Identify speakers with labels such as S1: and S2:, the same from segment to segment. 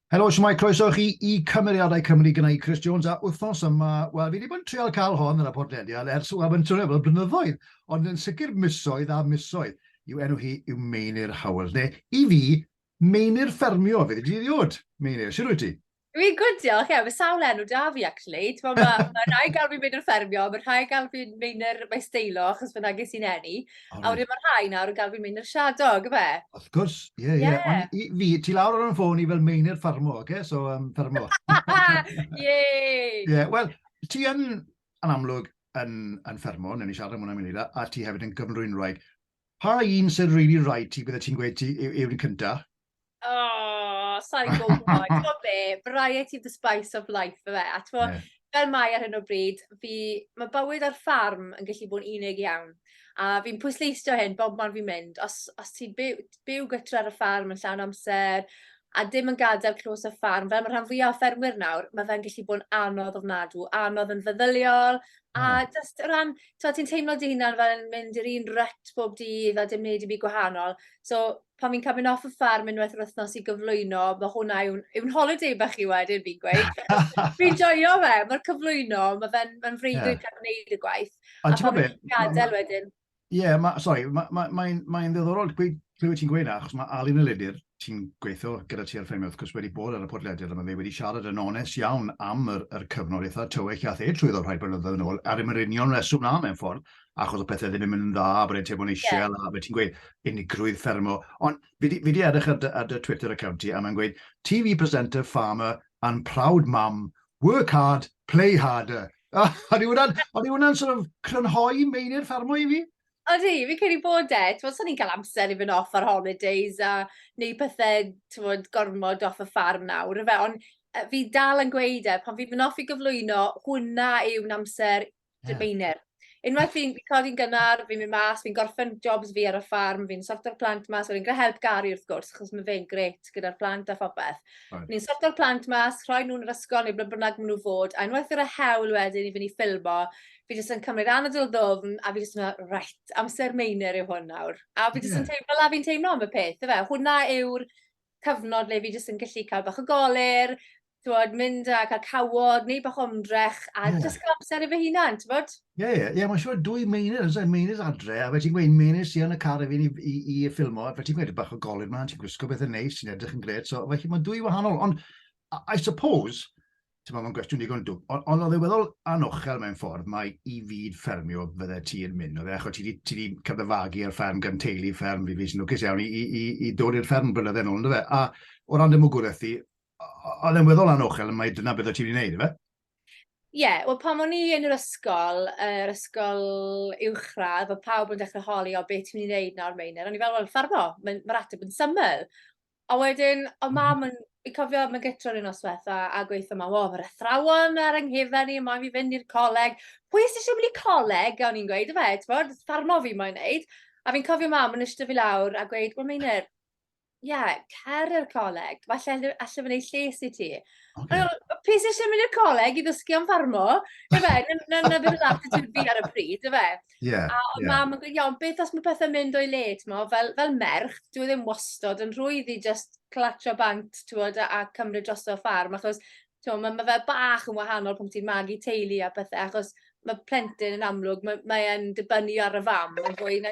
S1: Helo, shwmae, croeso chi i Cymeriadau Cymru gyda i Chris Jones, a wythnos yma, wel, fi wedi bod yn trial cael hon yn y podlediad ers, wel, mae'n swnio fel blynyddoedd, ond yn sicr misoedd a misoedd, yw enw hi yw Meinir Howells, neu i fi, Meinir Ffermio, fe ddwi ddiod, Meinir, sy'n rwyt ti? Fi'n gwrdd, diolch,
S2: ie, mae sawl enw da fi, actually. Mae ma, ma rhai gael fi'n mynd i'r ffermio, mae rhai gael fi'n mynd i'r mae steilo, achos fyna ges i'n enni. Oh, a wedyn mae rhai
S1: nawr yn cael fi
S2: mynd i'r siadog, fe? Of gwrs, ie, ie.
S1: Yeah. Ond i, fi, ti
S2: lawr ar y
S1: ffôn i fel meinir ffarmo, oce? Okay? So, um, ffarmo. Ie! Ie, wel, ti yn, yn amlwg, yn, yn ffermo, newn ni siarad am hwnna mynd i da, a ti hefyd yn gyfnrwyn rhaid. Pa un sy'n rili really rhaid ti, bydde ti'n gweud ti yw'n cynta? Oh,
S2: sa i'n gwybod. Ti'n be, variety of the spice of life, fe. A ti'n yeah. fel mae ar hyn
S1: o bryd,
S2: fi, mae bywyd ar ffarm yn gallu bod yn unig iawn. A fi'n pwysleisio hyn bob man fi'n mynd. Os, os ti'n byw, byw gytra ar y ffarm yn llawn amser, a dim yn gadael clws y ffarm, fel mae rhan fwyaf o ffermwyr nawr, mae fe'n gallu bod yn anodd ofnadw, anodd yn feddyliol, a hmm. just o ran, ti'n teimlo dy hunan fel yn mynd i'r un ryt bob dydd a dim wneud i mi gwahanol. So, pan fi'n cael mynd off y ffarm unwaith yr wythnos i gyflwyno, mae hwnna yw'n yw holiday bach i wedyn fi'n gweud. fi'n joio fe, mae'r cyflwyno, mae fe'n ma freuddwyd yeah. cael gwneud y gwaith.
S1: A, a
S2: pan fi'n gadael wedyn. Ie, yeah, ma, sorry,
S1: mae'n ma, ma, ma ddiddorol clywed ti'n gweud na, achos mae Alun y Ledir, ti'n gweithio gyda ti ar ffemio, wrth gwrs wedi bod ar y podlediad yma, fe wedi siarad yn onest iawn am yr, yr cyfnod eitha tywyll a the trwy ddod rhai blynyddoedd yn ôl, ar ymwneud union reswm na mewn ffordd, achos o pethau ddim yn mynd yn dda, bod e'n teimlo'n eisiau, yeah. a fe ti'n gweud unigrwydd ffermo. Ond fi wedi edrych ar, ar dy Twitter account i, a mae'n gweud, TV presenter, farmer, and proud mum, work hard, play harder. A o'n i wna'n, o'n i wna'n sort of crynhoi meinir ffermo i fi? Odi, fi cyn i
S2: bod e. Ti'n bod, so'n i'n cael amser i fynd off ar holidays a neu pethau, ti'n bod, gormod off y ffarm nawr. Fe, ond fi dal yn gweud e, pan fi'n mynd off i gyflwyno, hwnna yw'n amser Dydd Beiner.
S1: Unwaith
S2: fi'n fi codi'n gynnar, fi'n mynd mas, fi'n gorffen jobs fi ar y ffarm, fi'n sorto'r plant mas, wedyn gyda help Gary wrth gwrs, achos mae fe'n gret gyda'r plant a phopeth. Right. Ni'n sorto'r
S1: plant mas,
S2: rhoi nhw'n yr ysgol neu ble bynnag maen nhw fod, a unwaith yr y hewl wedyn i fynd i ffilmo, fi jyst yn cymryd anadl ddofn a fi jyst yn meddwl, right, amser meiner yw hwn nawr. A fi jyst yn teimlo fel a fi'n teimlo am y peth, efe. Hwna yw'r cyfnod le fi jyst yn gallu cael bach o goler, Tywod, mynd a cael cawod, neu bach omdrech, a yeah. just cael amser i fy
S1: hunan,
S2: ti'n bod? Ie, ie, ie, mae'n siŵr
S1: dwy meinir, yn meinir adre, a fe ti'n gweud meinir sy'n yn y car efo i, i, i ffilmo, fe ti'n gweud bach o golyn ma'n, ti'n gwisgo beth yn neis, sy'n edrych yn gred, so felly mae dwy wahanol, ond I suppose, ti'n meddwl, mae'n gwestiwn digon dwb, ond on oedd e weddol anochel mewn ffordd, mae i fyd ffermio fydde ti yn mynd, oedd e, achos ti wedi cyfyfagu ar fferm gan teulu fferm, fi fi sy'n lwcus iawn i, i, i, i dod i'r fferm blynydde yn ôl, a o ran demwgwraeth i, oedd e'n weddol anochel, mae dyna beth o ti wedi gwneud, efe? Ie, yeah,
S2: wel pan o'n i yn yr ysgol, yr ysgol uwchradd, oedd pawb yn dechrau holi o beth ti'n mynd i wneud nawr Meinir. O'n i fel, wel, ffarmo, mae'r mae ateb yn syml. A wedyn, o mam, yn, i cofio, mae'n gytro yn nosweth a, a gweithio yma, o, mae'r athrawon ar ynghefen ni, mae'n fi fynd i'r coleg. Pwy sy'n eisiau mynd i coleg, o'n i'n gweud, efe, ti'n bod, ffarmo fi mae'n neud. A fi'n cofio mam yn ystod fi lawr a gweud, wel, Meinir, ie, cer i'r coleg, falle alle fe wneud lles i ti. Okay. Ond pe
S1: sy'n eisiau mynd i'r
S2: coleg i ddysgu am farmo, y fe, na na beth oedd attitude fi ar y pryd, y fe. Yeah, a oedd yeah.
S1: mam yn gweud, iawn,
S2: beth
S1: os
S2: mae pethau'n mynd o'i le, mo, fel, fel merch, dwi e ddim wastod yn rhwydd i just clatio bant, ti'n a cymryd dros o'r ffarm, achos mae ma, ma fe bach yn wahanol pan ti'n magu teulu a pethau, achos mae plentyn yn amlwg, mae'n mae dibynnu ar y fam yn fwy na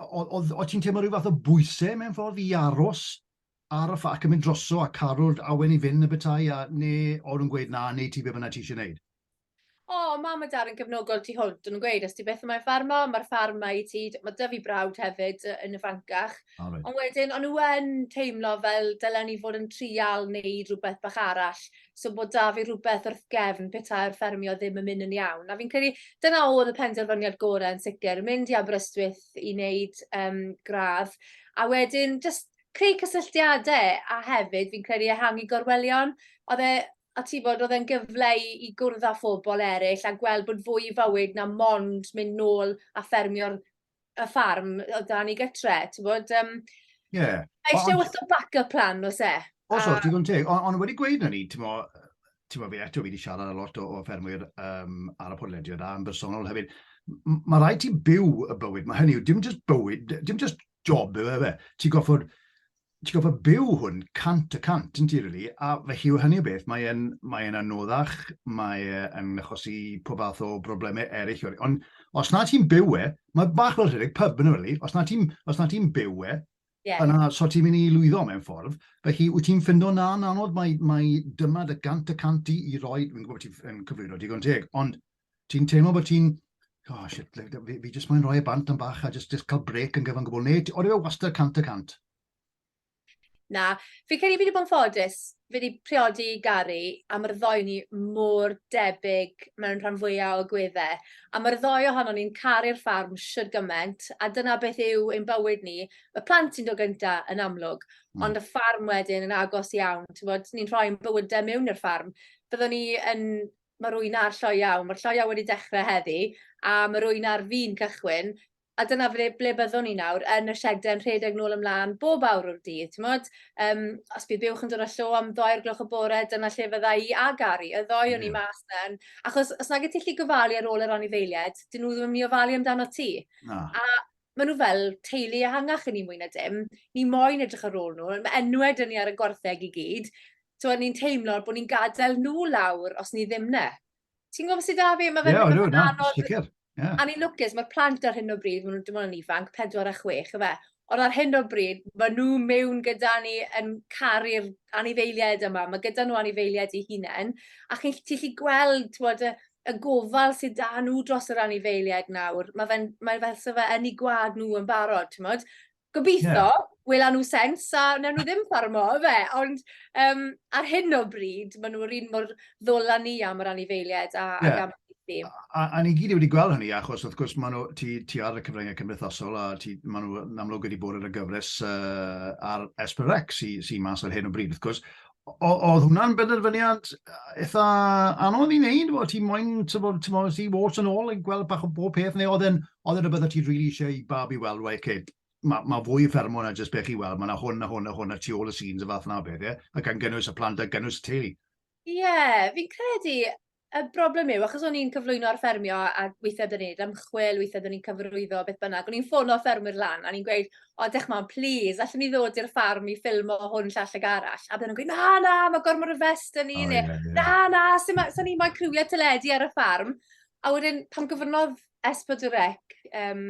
S1: o ti'n teimlo rhyw fath o bwysau mewn ffordd i aros ar y ffac yn mynd droso a caru'r awen i fynd y bethau a neu o'n nhw'n gweud na, neu ti be bynnag ti eisiau gwneud? O, oh,
S2: mam a dad yn gefnogol tu hwnt, yn gweud, os ti beth yma'n ffarm o, mae'r ffarm mae i ti, mae dyfu brawd hefyd yn y Francach. Oh, right. Ond wedyn, o'n
S1: nhw yn
S2: teimlo fel dylen ni fod yn trial neu rhywbeth bach arall, so bod 'da fi rhywbeth wrth gefn petai'r ffermio ddim yn mynd yn iawn. A fi'n credu dyna oedd y penderfyniad gorau yn sicr, mynd i Aberystwyth i wneud um, gradd, a wedyn just creu cysylltiadau, a hefyd fi'n credu ehangu gorwelion. Oedd e, a ti bod, oedd e'n gyfle i, i gwrdd â phobl eraill a gweld bod fwy i fywyd na mond mynd nôl a ffermio'r y ffarm o dan i gytre, ti'n bod? Um,
S1: yeah. Mae eisiau wrth o
S2: backup plan, os e? Os oes, digon teg.
S1: Ond on wedi gweud na ni, ti'n mo, ti'n mo, fi eto fi wedi siarad a lot o, o ffermwyr um, ar y podlediad a yn bersonol hefyd. Mae rhaid ti byw y bywyd, mae hynny yw, dim just bywyd, dim just job yw e fe. Ti'n goffod ti'n gwybod pa byw hwn cant y cant, yn ti, really? A felly yw hynny o beth, mae'n mae yna anoddach, mae'n achosi pob fath o broblemau eraill. Really. Ond os na ti'n byw e, mae bach fel rhedeg pub yn really. Os na ti'n ti byw e, yeah. yna so ti'n mynd i lwyddo mewn ffordd. Felly, wyt ti'n ffindo na yn anodd, mae, mae dyma dy gant y cant i, i roi, fi'n gwybod ti'n cyflwyno digon teg, ond ti'n teimlo bod ti'n, oh shit, fi, fi jyst moyn rhoi y bant yn bach a jyst, jyst cael brec yn gyfan gwbl, neu oedd e wastad cant y cant?
S2: Na, fi credu fi wedi bod yn ffodus, fi wedi priodi Gary, a mae'r ddoi ni mor debyg mewn rhan fwyaf o gweddau. A mae'r ddoi ohono ni'n caru'r ffarm sydd gymaint, a dyna beth yw ein bywyd ni. Mae plant sy'n dod gynta yn amlwg, mm. ond y ffarm wedyn yn agos iawn. Ni'n rhoi'n bywydau mewn i'r ffarm. Byddwn ni yn Mae'r ŵyn a'r lloiau, mae'r lloiau wedi dechrau heddi, a mae'r ŵyn ar fin cychwyn, a dyna ble, ble byddwn ni nawr, yn y siedau yn rhedeg nôl ymlaen bob awr o'r dydd, ti'n modd? Um, os bydd bywch yn dod â llo am ddoi'r gloch y bore, dyna lle fydda i a Gary, y ddoi o'n i mas na'n. Achos os nag y ti lli gofalu ar ôl yr anifeiliaid, dyn nhw ddim yn mynd i ofalu amdano ti. No. A maen nhw fel teulu ehangach i ni mwy na dim. Ni moyn edrych ar ôl nhw. Mae enwau dyn ni ar y gwartheg i gyd. So, ni'n teimlo bod ni'n gadael nhw lawr os ni ddim ne. Ti'n gwybod sydd da fi? Mae fe'n yeah, no, no, anodd. Sicr. Yeah. A ni'n lwcus, mae'r plant ar hyn o bryd, maen nhw'n dim ond yn ifanc, 4 a 6, efe. Ond ar hyn o bryd, mae nhw mewn gyda ni yn caru'r anifeiliaid yma. Mae gyda nhw anifeiliaid i hunain. A chi'n gallu gweld, ti'n gwybod, y gofal sydd da nhw dros yr anifeiliaid nawr, mae fe'n, mae fel se fe yn ei gwad nhw yn barod, ti'n modd? Gobeithio, yeah. wela nhw sens, a newn nhw ddim ffarmo, fe, ond um, ar hyn o bryd, maen nhw'r un mor ddola ni am yr anifeiliaid a, yeah. ac am i A, a, a ni
S1: gyd wedi gweld hynny, achos wrth gwrs maen nhw, ti, ti ar y cyfryngau cymdeithasol, a ti, maen nhw yn amlwg wedi bod ar y gyfres uh, ar Esperex sy'n sy mas ar hyn o bryd, wrth gwrs, oedd hwnna'n benderfyniad eitha anodd i wneud? Oedd ti moyn, ti'n bod, ti'n bod, ti'n bod yn ôl yn gweld bach o bob peth, neu oedd e'n, oedd e'n rhywbeth o ti'n rili really eisiau i bab i weld, wei, okay, mae ma fwy i ffermo na jyst beth i weld, mae yna hwn a hwn a hwn a tu ôl y scenes y fath na beth, ie? A gan gynnwys y plant a gynnwys y teulu. Ie, yeah, fi'n
S2: credu, Y broblem yw, achos o'n i'n cyflwyno ar ffermio a weithiau byddwn ni'n ymchwil, weithiau byddwn ni'n cyfrwyddo, beth bynnag, o'n i'n ffono ffermwyr lan a ni'n gweud, o, dech ma'n plis, allwn ni ddod i'r ffarm i ffilmo hwn llall ag arall. A byddwn nhw'n gweud, na, na, mae gormod o fest yn ni, oh, neu, yeah, yeah. na, na, sy'n so ni moyn criwiau teledu ar y ffarm. A wedyn, pan gyfrnodd Espod y Rec um,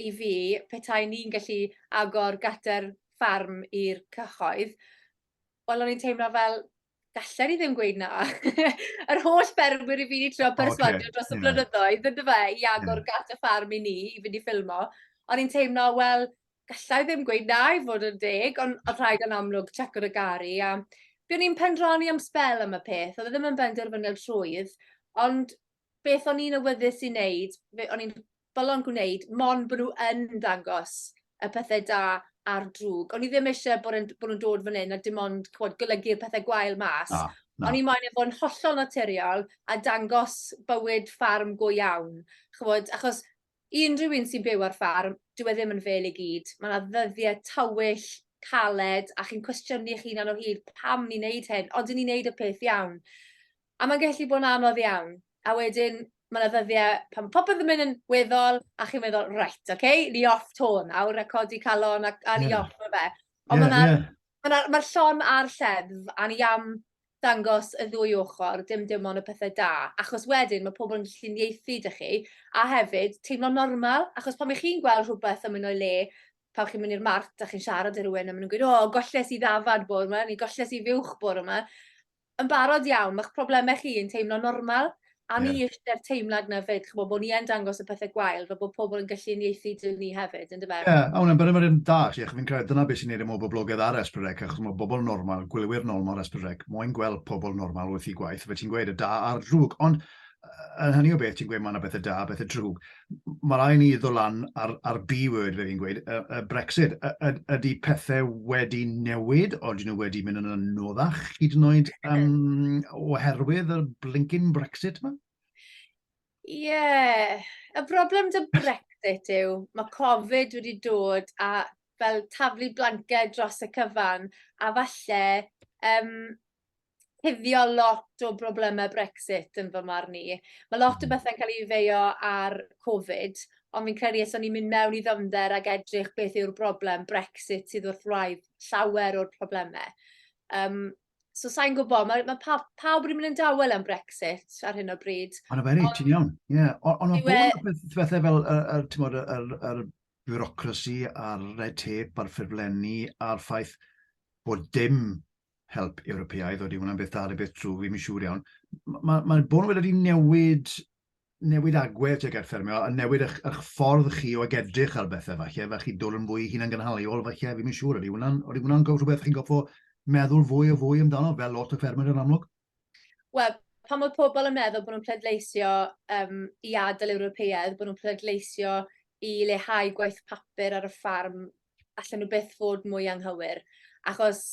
S2: i fi, petai ni'n gallu agor gater ffarm i'r cyhoedd, wel, o'n i'n teimlo fel, Galler i ddim gweud na. Yr holl berwyr i fi wedi trio perswadio okay. dros y blynyddoedd, ynddo fe, i agor yeah. gat y ffarm i ni, i fynd i ffilmo. Ond i'n teimlo, wel, gallai ddim gweud na i fod yn deg, ond oedd rhaid yn amlwg check o'r gari. A byddwn i'n pendrani am spel am y peth, oedd e ddim yn benderfyniad rhwydd, ond beth o'n i'n awyddus i wneud, be o'n i'n bylon gwneud, mon bod nhw yn dangos y pethau da a'r drwg. O'n i ddim eisiau bod, yn, bod nhw'n dod fan hyn a dim ond cwod, golygu'r pethau gwael mas. Ah, no. O'n i moyn efo yn hollol naturiol a dangos bywyd ffarm go iawn. Chwod, achos I unrhyw un sy'n byw ar ffarm, dyw e ddim yn fêl i gyd. Mae yna ddyddiau tywyll, caled, a chi'n cwestiynu eich hunan o hyd, pam ni'n neud hyn, ond i ni'n neud y peth iawn. A mae'n gallu bod yn anodd iawn. A wedyn, mae yna ddyddiau pan popeth yn mynd yn weddol, a chi'n meddwl, right, oce, okay, ni off to nawr, a codi calon, a, a ni yeah. off o fe. Ond yeah, mae'r yeah. ma ma llon a'r lleddf, a ni am dangos y ddwy ochr, dim dim ond y pethe da, achos wedyn mae pobl yn gallu uniaethu 'da chi, a hefyd teimlo'n normal, achos pan 'ych chi'n gweld rhywbeth yn mynd o'i le, pan chi'n mynd i'r mart a chi'n siarad â rhywun a maen nhw'n gweud, o, golles i ddafad bore 'ma, neu golles i fuwch bore 'ma, yn barod iawn, mae'ch problemau chi yn teimlo'n normal, A ni yeah. eisiau'r teimlad na fyd, chymod, bod ni yn dangos y pethau gwael, fe bod pobl yn gallu unieithu dyn ni hefyd, yn dyfa? Ie, yeah, a hwnna'n byrym yr un da,
S1: chi, fi'n credu dyna beth sy'n neud ymwneud boblogaidd ar Esbrec, achos mae bobl normal, gwylwyr normal ar Esbrec, moyn gweld pobl normal wrth i gwaith, fe ti'n gweud y da a'r drwg, ond yn hynny o beth ti'n gweud mae yna bethau da, bethau drwg. Mae rhaid ni ddod lan ar, ar B-word, fe fi'n gweud, y, y Brexit. Y, y, ydy pethau wedi newid, o dyn nhw wedi mynd yn anoddach, hyd yn oed um, oherwydd y blinkin Brexit yma? Ie,
S2: yeah. y broblem dy Brexit yw, mae Covid wedi dod a fel taflu blanced dros y cyfan, a falle um, cuddio lot o broblemau Brexit yn fy marn i. Mae lot o hmm. bethau'n cael ei feio ar Covid, ond fi'n credu os o'n i'n mynd mewn i ddyfnder ac edrych beth yw'r broblem Brexit sydd wrth wraidd llawer o'r problemau. Um, so sa'n gwybod, mae, mae pa, pawb wedi mynd yn dawel am Brexit ar hyn o bryd. Ond fe reit, ti'n iawn.
S1: Yeah. Ond mae bod yn bethau fel y, y, tymod, y, y, y bureaucracy a'r red tape a'r ffurflenni a'r ffaith bod dim help Ewropeaidd, oeddi hwnna'n beth da neu beth drwg, fi'n siŵr iawn. Mae ma, ma bod wedi newid newid agwedd tuag at ffermio, a newid eich, eich ffordd chi o ag edrych ar bethau falle, fe chi dod yn fwy hun yn gynhaliol falle, fi'n siŵr, ydy hwnna'n hwnna rhywbeth chi'n gofio meddwl fwy o fwy amdano, fel lot o ffermwyr yn amlwg? Wel,
S2: pan mae pobl yn meddwl bod nhw'n pleidleisio um, i adael Ewropeaidd, bod nhw'n pleidleisio i lehau gwaith papur ar y ffarm allan nhw byth fod mwy anghywir, achos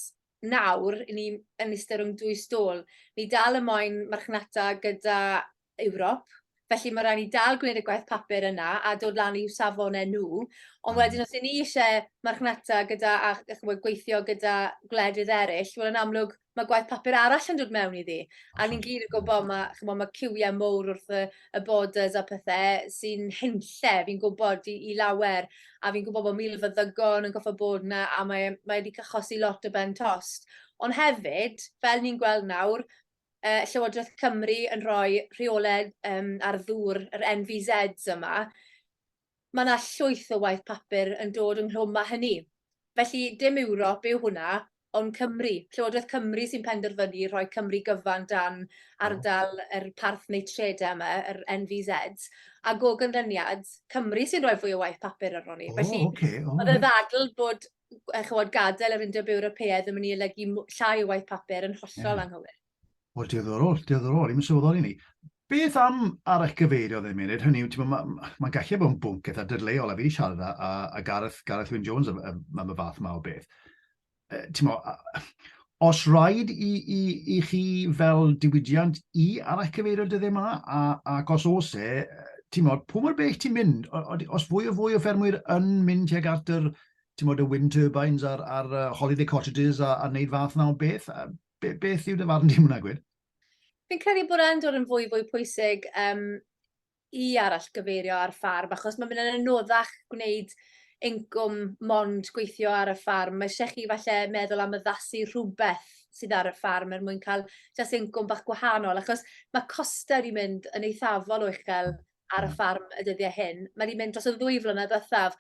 S2: nawr, i ni yn eistedd rhwng dwy stôl, ni dal y moyn marchnata gyda Ewrop, felly mae rhaid ni dal gwneud y gwaith papur yna a dod lan i'w safon e nhw, ond hmm. wedyn os i ni eisiau marchnata gyda a, a gweithio gyda gwledydd eraill, wel yn amlwg mae gwaith papur arall yn dod mewn iddi. A ni'n gyd yn gwybod, mae, chymod, mae cywiau mowr wrth y, y borders a pethau sy'n henlle, fi'n gwybod, i, i lawer. A fi'n gwybod bod mil fyddygon yn goffa bod yna, a mae, mae wedi cachosi lot o ben tost. Ond hefyd, fel ni'n gweld nawr, uh, Llywodraeth Cymru yn rhoi rheolau um, ar ddŵr yr NVZs yma, Mae 'na llwyth o waith papur yn dod ynghlwm â hynny. Felly, dim Ewrop yw hwnna, ond Cymru. Llywodraeth Cymru sy'n penderfynu rhoi Cymru gyfan dan ardal yr Parth Neitredau yma, yr NVZ, ac o ganlyniad, Cymru sy'n rhoi fwy o waith papur arnon ni. Felly, oedd y ddadl bod chymod, gadael yr Undeb Ewropeaidd yn mynd i olygu llai o waith papur yn hollol anghywir. O, diddorol,
S1: diddorol, i'n sylweddoli ni. Beth am ar eich gyfeirio ddim yn hynny yw, ti'n mae'n ma, ma gallu bod yn bwnc eitha dyrleol, a fi wedi siarad â, a Gareth, Gareth Wyn Jones am, am, am y fath yma o beth. E, ti'n os rhaid i, i, i chi fel diwydiant i ar eich cyfeirio dyddiau yma, a, ac os os e, ti'n modd, pwy mor bell ti'n mynd, os fwy o fwy o ffermwyr yn mynd tuag at yr, ti'n modd, y wind turbines a'r, ar uh, holiday cottages a, a wneud fath na o beth, Be, beth yw dy farn di hwnna, gwir? Fi'n credu
S2: bod e'n dod yn fwy fwy pwysig um, i arall gyfeirio ar ffarm, achos mae'n mynd yn anoddach gwneud incwm mond gweithio ar y ffarm. Mae eisiau chi falle meddwl am yddasu rhywbeth sydd ar y ffarm er mwyn cael jas incwm bach gwahanol, achos mae costau wedi mynd yn eithafol o uchel ar y ffarm y dyddiau hyn. Mae wedi mynd dros y ddwy flynedd ddiwethaf.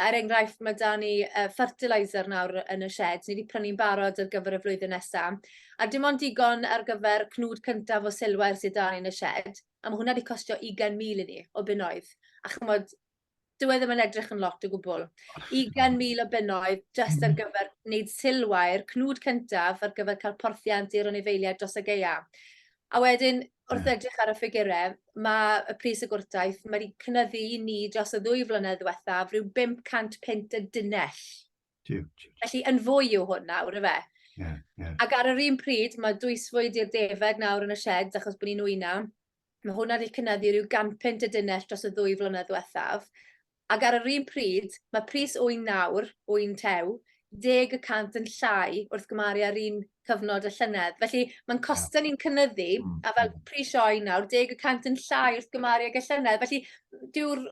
S2: Er enghraifft, mae da ni uh, fertilizer nawr yn y shed. Ni wedi prynu'n barod ar gyfer y flwyddyn nesaf. A dim ond digon ar gyfer cnwd cyntaf o silwair sydd da ni yn y shed. A mae hwnna wedi costio 20,000 i ni o bunnoedd. A chymod, Dwi e ddim yn edrych yn lot o gwbl. 20,000 o bunnoedd just ar gyfer wneud silwair, cnwd cyntaf ar gyfer cael porthiant i'r anifeiliaid dros y geia. A wedyn, wrth hmm. edrych ar y ffigurau, mae y pris y gwrtaeth, mae wedi cynyddu i ni dros y ddwy flynedd ddiwethaf rhyw 500 pint y dynell. Felly yn fwy yw hwn nawr, efe? Yeah, yeah. Ac ar yr un pryd, mae dwysfwyd i'r defed nawr yn y shed, achos bod ni'n wyna. Mae hwnna wedi cynyddu rhyw ganpunt y dunnell dros y ddwy flynedd ddiwethaf, ac ar yr un pryd, mae pris ŵyn nawr, ŵyn tew, deg y cant yn llai wrth gymaru â'r un cyfnod y llynedd. Felly mae'n costau ni'n cynyddu, mm, a fel mm. pris sioe nawr, deg y cant yn llai wrth gymaru ag y llynedd. Felly dyw'r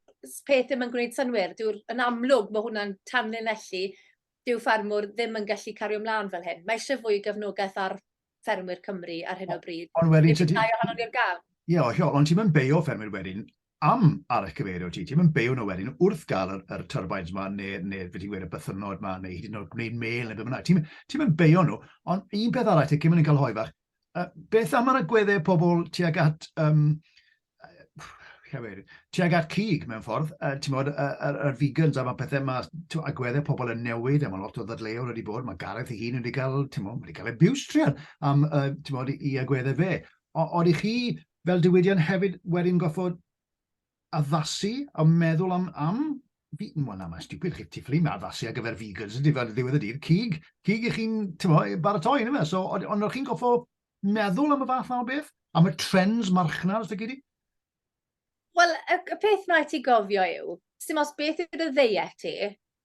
S2: peth ddim yn gwneud synwyr, dyw'r yn amlwg mae hwnna'n tanlinellu, dyw ffarmwr ddim yn gallu cario ymlaen fel hyn. Mae eisiau fwy o gefnogaeth ar ffermwyr Cymru ar hyn o bryd. Ond wedyn... Nid ydau ohono
S1: ni'r
S2: gaf. Ie, o, hiol, ond ti'n mynd
S1: beio ffermwyr wedyn am ar eich cyfeirio ti, ti'n mynd beio nhw wedyn wrth gael yr, yr turbines yma, neu, neu fe ti'n gweud y bythynod yma, neu hyd yn oed gwneud mail neu beth bynnag. Ti'n ti mynd beio nhw, ond un peth arall, ti'n cymryd yn cael hoi fach, uh, beth am yr agweddau pobl tuag at um, Cymru, tuag at cig mewn ffordd, uh, ti'n modd, yr uh, uh, vegans a mae pethau yma, agweddau pobl yn newid, a mae lot o ddadleuol wedi bod, mae Gareth ei hun wedi cael, ti'n modd, wedi cael abuse trian am, uh, ti'n modd, i agweddau fe. Ond i chi, fel diwydion hefyd, wedyn goffod addasu a meddwl am, am fi, wel na, mae'n stupid chi tifflu, mae addasu ar gyfer vegans, ydy fel ddiwedd y dydd, cig, cig i chi'n, ti'n modd, baratoi, yna fe. So, ond o'ch chi'n goffo meddwl am y fath yma o beth? Am y trends marchnad, os da gedi?
S2: Wel, y, y peth mae ti gofio yw, sy'n os beth yw dy ddeiet ti,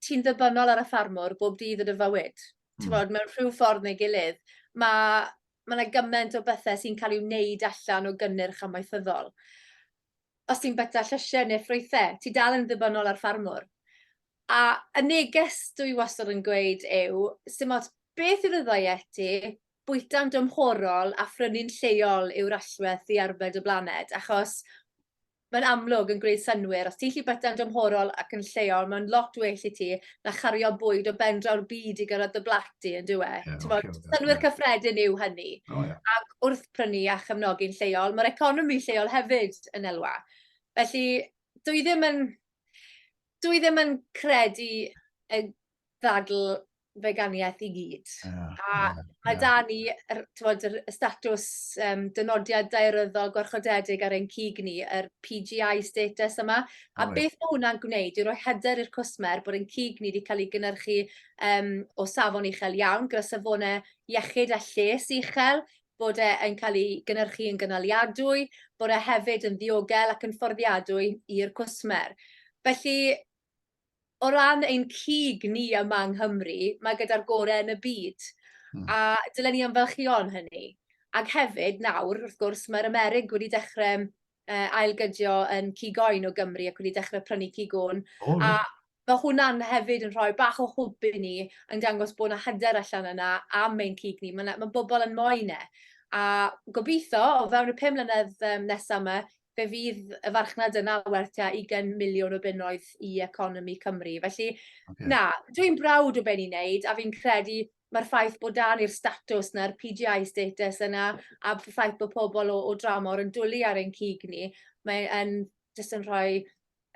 S2: ti'n ddybynnol ar y ffarmwr bob dydd yn y fywyd. Mm. Ti'n bod, mewn rhyw ffordd neu gilydd. Mae ma yna gymaint o bethau sy'n cael ei wneud allan o gynnyrch amaethyddol. Os ti'n byta llysiau neu ffrwythau, ti dal yn ddybynnol ar ffarmwr. A y neges dwi wastad yn gweud yw, sy'n os beth yw'r ddeiet ti, bwyta'n dymhorol a phrynu'n lleol yw'r allwedd i arbed y blaned, achos mae'n amlwg yn gwneud synnwyr, os ti'n lli byta'n dymhorol ac yn lleol, mae'n lot well i ti na chario bwyd o ben draw'r byd i gyrraedd dy blat di, yn dywe? Yeah, okay, okay, synnwyr yeah. cyffredin yw hynny. Oh, yeah. Ac wrth prynu a chefnogi'n lleol, mae'r economi lleol hefyd yn elwa. Felly, dwi ddim yn, dwi ddim yn credu y ddadl feganiaeth i gyd. Yeah, a yeah, mae yeah. da ni, er, tywod, yr statws um, dynodiad daearyddol gwarchodedig ar ein cig ni, yr PGI status yma. A right. beth mae hwnna'n gwneud yw roi hyder i'r cwsmer bod ein cig ni wedi cael ei gynnyrchu um, o safon uchel iawn, gyda safonau iechyd a lles uchel, bod e'n cael ei gynnyrchu yn gynaliadwy, bod e hefyd yn ddiogel ac yn fforddiadwy i'r cwsmer. Felly, o ran ein cig ni yma yng Nghymru, mae gyda'r gorau yn y byd. Hmm. A dylen ni ymfalchio yn hynny. Ac hefyd, nawr, wrth gwrs, mae'r Amerig wedi dechrau uh, ailgydio yn cig oen o Gymru ac wedi dechrau prynu cig o'n. Oh, a mae hwnna'n hefyd yn rhoi bach o hwb i ni yn dangos bod yna hyder allan yna am ein cig ni. Mae, mae bobl yn moyn e. A gobeithio, o fewn y pum mlynedd um, nesaf yma, fe fydd y farchnad yna werth tua 20 miliwn o bunnoedd i economi Cymru. Felly, okay. na, dwi'n brawd o beth ni'n neud, a fi'n credu mae'r ffaith bod dan i'r statws na'r PGI status yna, a ffaith bod pobl o, o dramor yn dwlu ar ein cig ni, mae'n jyst yn rhoi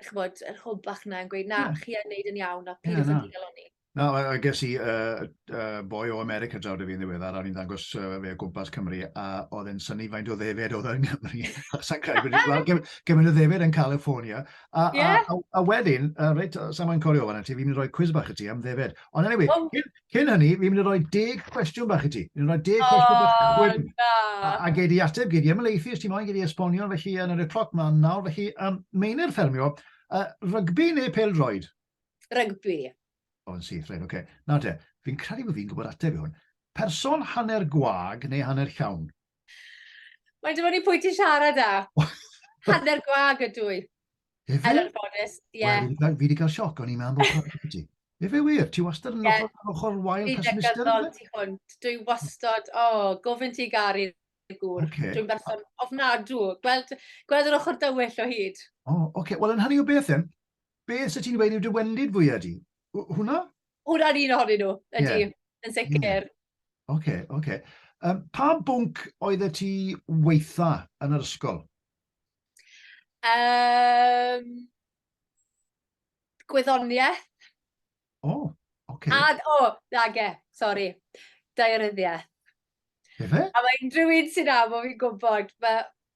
S2: chybod, yr hwb bach yna yn gweud, na, yeah. chi yn neud yn iawn, a pyd yeah, yn digalon ni. Na, a ges i uh, uh,
S1: boi o America draw dy fi'n ddiweddar, a ni'n dangos uh, fe o gwmpas Cymru, a oedd e'n syni faint o ddefed oedd yn Nghymru. Sa'n credu bod wedi gweld gymaint o ddefed yn California. A, yeah. a, a, a wedyn, uh, reit, sa'n ma'n corio fan ti, fi'n mynd i roi quiz bach i ti am ddefed. Ond anyway, oh. cyn, cyn hynny, fi'n mynd i roi deg cwestiwn bach i ti. Fi'n roi deg oh, cwestiwn bach i ti. A, a gei di ateb, gei di ymlaethu, os ti'n moyn, gei di esbonio, felly yn yr y cloc ma'n nawr, felly, um, meinir ffermio, uh, rygbi neu pel droed? rygbi.
S2: O, yn
S1: syth, rhaid, oce. Okay. Na de, fi'n credu bod fi'n gwybod ateb i hwn. Person hanner gwag neu hanner llawn?
S2: Mae'n dod i pwy ti siarad â. hanner gwag ydw i. Efe? Er yn
S1: ffodus,
S2: ie. Yeah. Well, fi wedi cael sioc,
S1: o'n i'n meddwl bod gwag ydw Efe wir, ti wastad yn yeah. ochr, ochr wael pesmister? Dwi'n degol ti hwnt, dwi
S2: wastad, o, oh, gofyn ti gari gŵr. Okay. Dwi'n berson ofnadw. Gweld, gweld yr ochr dywyll o hyd. O, oh, oce. Okay. Wel, yn hynny
S1: o beth yn, Be fysa ti'n dweud yw dy wendid fwyaf di? Hwna? Hwna'n un
S2: ohonyn nhw, ydy, yeah. yn sicr. Yeah. Oce, okay, oce.
S1: Okay. Um, pa bwnc oedd y ti weitha yn yr ysgol? Um,
S2: gwyddoniaeth. O,
S1: oh, oce. Okay. A, o, oh, dage,
S2: sori, daearyddiaeth.
S1: Efe? A mae unrhyw un
S2: sy'n am o fi'n gwybod, mae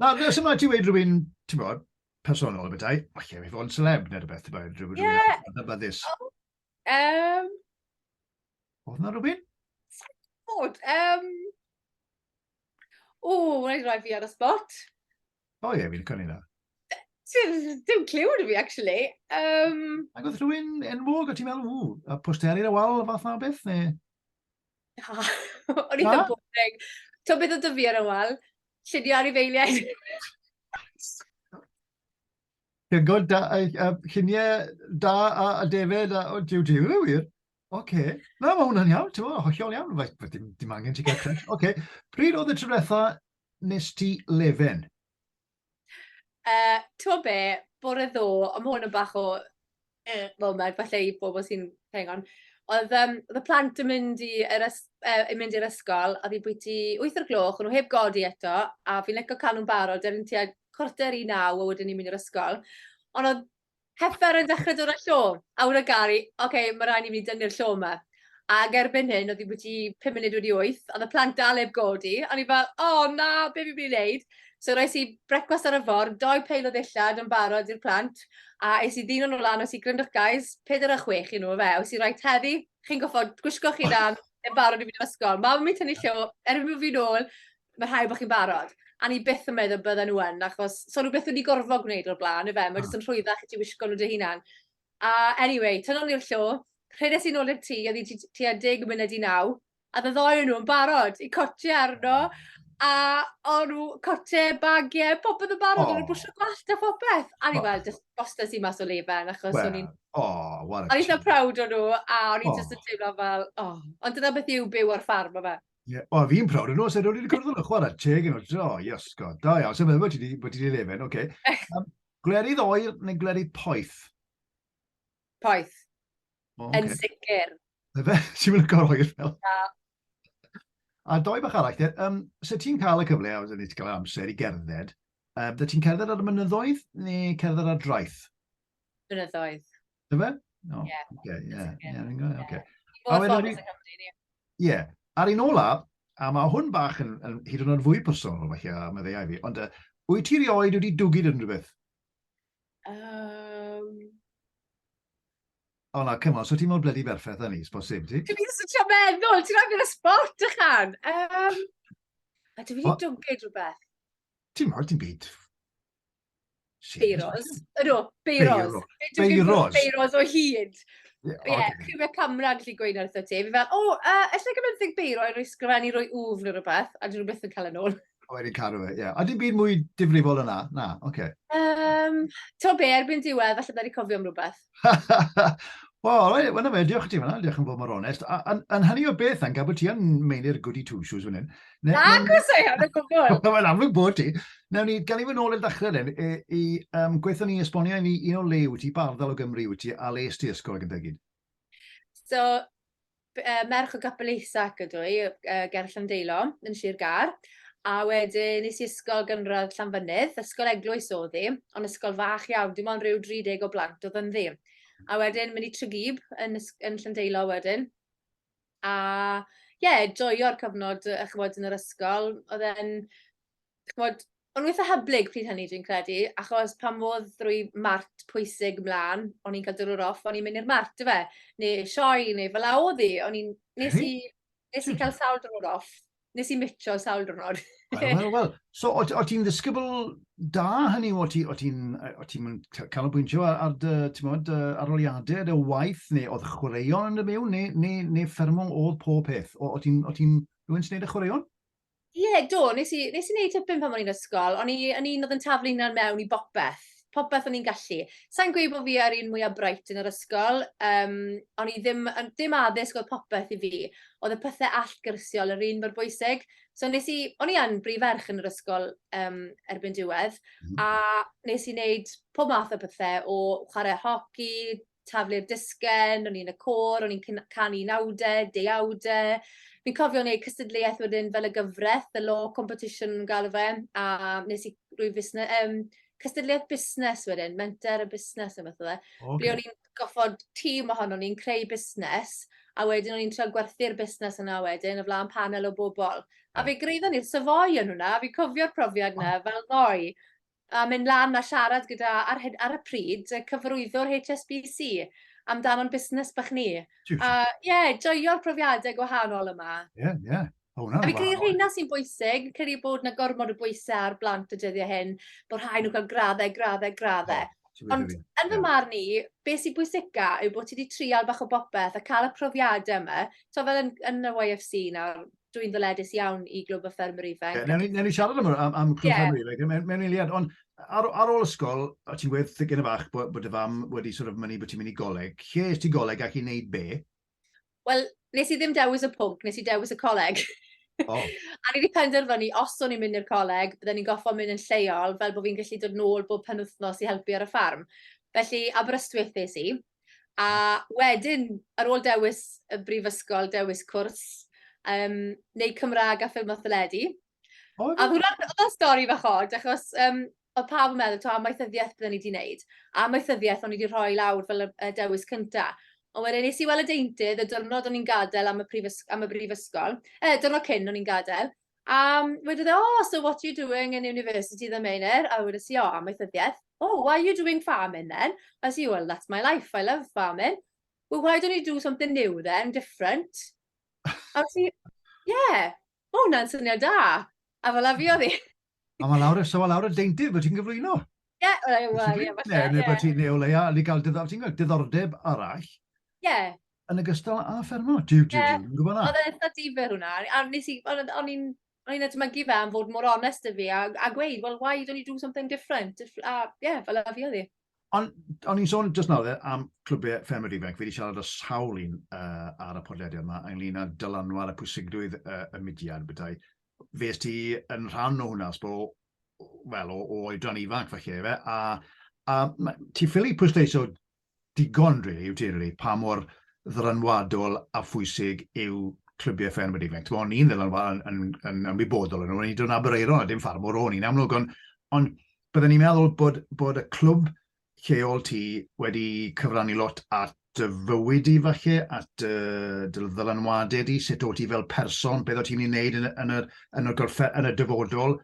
S1: Na, nes yma ti wedi rhywun, ti'n bod, personol y bethau, o ie, mi fod yn celeb neu rhywbeth, ti'n bod, rhywun yn ddybyddus. Um, Oedd yna rhywun? Bod, um...
S2: O, wna i roi fi ar y spot. O ie,
S1: fi'n cynnig na.
S2: Dim clyw yn fi, actually. Um... Ac
S1: oedd rhywun enwog o ti'n meddwl, ww, a posteri ar y wal, fath na beth, neu... Na. O'n
S2: eitha boring. T'o' beth o'dd 'dy fi ar ôl? Llunio anifeiliaid. Chi'n
S1: gweld da yy yy llunie da a a defaid a o jiw jiw yw wir. Ocê. Na ma' hwnna'n iawn t'mo' hollol iawn reit ma' dim dim angen ti ga'l crash. Ocê pryd o'dd y tro dwetha nest ti lefen? Yy,
S2: t'mo' be'? Bore ddo, on' ma' 'wn yn bach o yy foment falle i bobol sy'n playing on o'dd yym o'dd y plant yn mynd i yr ys- yy yn mynd i'r ysgol a fi bwyty wyth o'r gloch, o'n nw heb godi eto, a fi'n lico ca'l nw'n barod erbyn tua cwarter i naw a wedyn ni'n mynd i'r ysgol on' o'dd Heffer yn dechrau dod â llo, a wna Gary, oce, okay, mae rhaid i mi dynnu'r llo yma. Ac erbyn hyn, oedd hi wedi 5 munud wedi 8, oedd y plant dal eb godi, a ni fel, o oh, na, be fi'n mynd i wneud? So roes i brecwast ar y ffordd, doi peil o ddillad yn barod i'r plant, a es i ddyn o'n lan, oes i gryndwch guys, 4 a 6 i nhw, fe, oes i rhaid heddi, chi'n goffod gwisgo chi dan, yn barod i fynd i'r ysgol. Mam yn mynd tynnu llo, erbyn bod fi'n ôl, ma' rhaid bod chi'n barod. A ni byth yn meddwl bydden nhw yn, achos so nhw byth wedi gorfod gwneud o'r blaen, efe, mae jyst yn rhwyddach i ti wisgo nhw dy hunan. A anyway, tynol ni'r llo, rhedais i'n ôl i'r tŷ, oedd hi tua deg munud i naw, a dda ddoi nhw yn barod i cotio arno, a o nhw cotio, bagiau, popeth yn barod, oh. nhw'n bwysio gwallt a phopeth. A ni oh. fel, just bostas i mas o lefen, achos well, o'n i'n... Oh, what a O'n i'n
S1: proud o nhw, a
S2: o'n i'n oh. just yn teimlo fel, oh. Ond dyna beth yw byw ar ffarm, o fe. Ie, o, fi'n prawd yn
S1: os, edo wedi cwrdd yn y chwarae, teg yn os, o, yes, god, da iawn, sef efo ti wedi lefen, oce. Um, glerydd oer neu glerydd poeth?
S2: Poeth. Oh, okay. Yn sicr.
S1: Efe, ti'n mynd o'r oer fel? Na. A doi bach arall, te, um, so ti'n cael y cyfle, a wedyn ti'n cael amser i gerdded, um, da ti'n cerdded ar y mynyddoedd neu cerdded ar draeth?
S2: Blynyddoedd. Dyn fe? No.
S1: Yeah. Okay, yeah. Yeah, yeah, yeah.
S2: okay. Ie. Yeah. Ar
S1: un olaf, a mae hwn bach yn, yn hyd yn oed fwy personol, mae chi a meddeiau fi, ond uh, wyt ti rioed wedi dwgyd yn rhywbeth? Um... O na, cymod, so ti'n mor bledi berffaith â ni, sbos sib ti? Dwi'n mynd sy'n meddwl,
S2: ti'n rhaid yn y sport ychan. Um, a dwi'n mynd i dwgyd rhywbeth. Ti'n mor, ti'n
S1: byd Beiros.
S2: Ydw, Beiros. Beiros. Beiros o hyd. Ie, yeah, okay. mae camera yn gallu gweud wrtho ti. Fi fel, o, oh, uh, ella gyda'r thig beiro i roi sgrifennu roi wf neu rhywbeth, a dyn nhw beth yn cael yn ôl. O, wedi cadw fe, ie. Yeah.
S1: A dim byd mwy difrifol yna? Na, oce. Okay. Um,
S2: to be, erbyn diwedd, falle da ni cofio am rhywbeth.
S1: Wel, right, well, fe, diolch i ti fanna, diolch yn fawr mor onest. Yn hynny o beth, yn gabod ti yn meinir goody two shoes fan hyn. Nag os ei
S2: hynny gwbl. Wel, amlwg bod ti.
S1: Newn ni, gan i fy nôl i'r ddechrau dden, i, i um, gweithio ni esbonio i ni un o le wyt ti, barddal o Gymru wyt ti, a le ysdi ysgol ac yn degyd. So,
S2: uh, merch o Gapel Eisac ydw i, uh, ger Llandeilo, yn Sir Gar. A wedyn nes i ysgol gynradd Llanfynydd, ysgol eglwys o ddi, ond ysgol fach iawn, dim ond rhyw 30 o blant o ddi. A wedyn mynd i Trygib yn, yn Llandeilo wedyn. A ie, yeah, joio'r cyfnod, chymod, yn yr ysgol. Oedd e'n chymod, o'n nhw eitha hyblyg pryd hynny dwi'n credu, achos pan fodd drwy mart pwysig mlaen, o'n i'n cael dyrwyr off, o'n i'n mynd i'r mart, fe, neu sioi, neu fel a oedd hi, o'n i'n, nes i, nes i cael sawl dyrwyr off, nes i mitio sawl dyrnod. Wel, wel, wel.
S1: So, o, o ti'n ddisgybl da hynny, o ti'n ti, o ti canolbwyntio ar, ar dy, ti'n modd, aroliadau, dy waith, neu oedd chwaraeon yn y mewn, neu, neu, neu ffermo oedd pob peth? O, o ti'n, o ti'n rhywun sy'n neud y chwaraeon? Ie, do,
S2: nes i, nes i wneud tipyn pan o'n i'n ysgol, o'n i yn un oedd yn taflu hynna'n mewn i bopeth, popeth o'n i'n gallu. Sa'n gweud bod fi ar un mwyaf bright yn yr ysgol, um, o'n i ddim, ddim addysg oedd popeth i fi, oedd y pethau allgyrsiol yr un mor bwysig. So nes i, o'n i yn brif ferch yn yr ysgol um, erbyn diwedd, mhm. a nes i wneud pob math o pethau, o chwarae hoci, taflu'r disgen, o'n i yn y côr, o'n i'n cyn- canu nawde, deuawde. Fi'n cofio neud cystadleuaeth wedyn fel y gyfres, the law competition o'n nw'n galw fe, a nes i roi fusne- yym cystadleuaeth busnes wedyn, menter a busnes ne' wbeth o'dd e. O oce. Ble o'n i'n goffod tîm ohonon ni'n creu busnes, a wedyn o'n i'n trio gwerthu'r busnes yna wedyn o flan panel o bobl. A fe greidon ni'r Savoy o'n hwnna, fi'n cofio'r profiad 'na fel ddoe. a mynd lan a siarad gyda, ar, ar y pryd, y cyfrwyddwr HSBC amdano'n busnes bach ni. Tiwt. A ie, yeah, joio'r profiadau gwahanol yma. Ie, yeah, ie. Yeah. Oh, a fi credu rheina sy'n bwysig, credu bod yna gormod o bwysau ar blant y dyddiau hyn, bod rhai nhw'n cael graddau, graddau, graddau. Oh, Ond yn fy marn i, beth sy'n bwysica yw bod ti wedi trial bach o bopeth a cael y profiadau yma. So fel yn, yn y YFC nawr, dwi'n ddyledus iawn i Glwb y Ffermwyr Ifanc. Yeah, newn, newn ni siarad am, am,
S1: am Glwb yeah. Ffermwyr Ifanc mewn, mewn eiliad, ond ar, ar ôl ysgol, a ti'n gwedd yn y fach bod, bod y fam wedi sort of mynnu bod ti'n mynd i goleg. Lle ys ti goleg ac i wneud be? Wel,
S2: nes i ddim dewis y pwnc, nes i dewis y coleg. Oh. a ni wedi penderfynu, os o'n i'n mynd i'r coleg, byddwn ni'n goffo mynd yn lleol, fel bod fi'n gallu dod nôl bob penwthnos i helpu ar y ffarm. Felly, Aberystwyth es i. A wedyn, ar ôl dewis y brifysgol, dewis cwrs, um, neu Cymraeg a ffilm a theledu. Oh, a hwnna'n stori fach od, achos um, oedd pawb yn meddwl, to, amaethyddiaeth byddwn ni wedi wneud. A amaethyddiaeth o'n i wedi rhoi lawr fel y dewis cyntaf. Ond wedyn nes i weld y deintydd y diwrnod o'n i'n gadael am y, prifysg am y brifysgol, e, diwrnod cyn o'n i'n gadael, A wedodd e, oh, so what you doing in university the minute? A wedes i, o, amaethyddiaeth. Oh, why are you doing farming then? A si, well, that's my life, I love farming. Well, why don't you do something new then, different? A si, yeah, mae hwnna'n syniad da. A fel afi oedd i. A mae lawr, so
S1: mae lawr y deintydd bod ti'n gyflwyno. Ie,
S2: wel, ie, falle. Neu bod
S1: ti'n neu
S2: o leia,
S1: ni gael diddordeb arall. Ie,
S2: Yn ogystal
S1: â ffermio? Diw, diw, diw, yn gwybod na. Oedd e'n
S2: eitha
S1: difyr hwnna.
S2: A nes i, o'n i'n o'n i'n edmygu fe am fod mor onest y fi a, a gweud, well, why don't you do something different? A, ie, yeah, fel a fi oedd hi. Ond o'n i'n
S1: sôn just nawr am clwbiau ffermwyr ifanc, fi wedi siarad o sawl un uh, ar y podlediad yma ynglyn â dylanwad a pwysigrwydd uh, y mudiad, bydau. Fes ti yn rhan o hwnna, sbo, wel, o, o oedran ifanc falle, fe, a, a ti ffili pwysleisio digon rili i'w deulu pa mor ddylanwadol a phwysig yw clybiau ffermwyr ifanc. T'mo, o'n i'n ddylanwa- yn, yn, yn ymwybodol yn o'n i'n dod yn Aberaeron a dim ffarmwr o'n i'n amlwg, ond, ond bydden i'n meddwl bod, bod y clwb lleol ti wedi cyfrannu lot at dy fywyd di falle, at uh, dy ddylanwadau di, sut o ti fel person, beth o ti'n ei wneud yn, yn, yr, yn, y golfe, yn y dyfodol,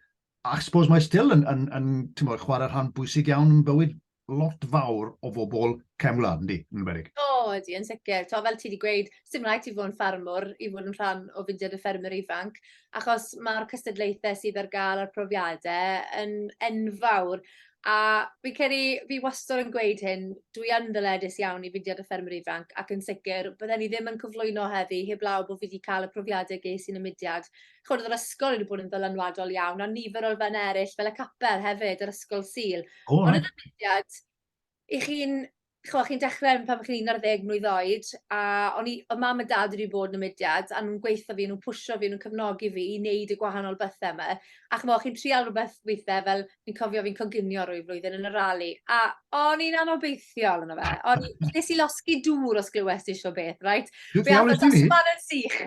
S1: ac suppose mae still yn, yn, yn, yn chwarae rhan bwysig iawn yn bywyd lot fawr o fobl cefn gwlad, yndi, yn enwedig? O, ydy, yn sicr.
S2: To, fel ti wedi gweud, sy'n rhaid ti fod yn ffarmwr i fod yn rhan o fudiad y ffermwyr ifanc, achos mae'r cystadlaethau sydd ar gael a'r profiadau yn enfawr. A fi'n credu, fi wastad yn gweud hyn, dwi yn ddyledus iawn i fudiad y ffermwyr ifanc, ac yn sicr, bydden ni ddim yn cyflwyno heddi heblaw bod fi wedi cael y profiadau ges i'n y mudiad, chimod, oedd yr ysgol wedi bod yn ddylanwadol iawn, a nifer o elfennau eraill, fel y capel hefyd, yr ysgol Sul. Oh, Ond oedd y mudiad, i chi'n Chwa, chi'n dechrau pan chi'n 11 mlynedd oed, a o'n i, y mam a dad wedi bod yn y mudiad, a nhw'n gweithio fi, nhw'n pwysio fi, nhw'n cefnogi fi i wneud y gwahanol bethau yma. A chwa, chi'n trial rhywbeth weithiau fel fi'n cofio fi'n coginio rwy flwyddyn yn y rali, a o'n i'n anobeithiol yno fe. O'n i, nes i losgi dŵr os glywes ti sio beth, right? Fe am y dosbarth yn
S1: sych.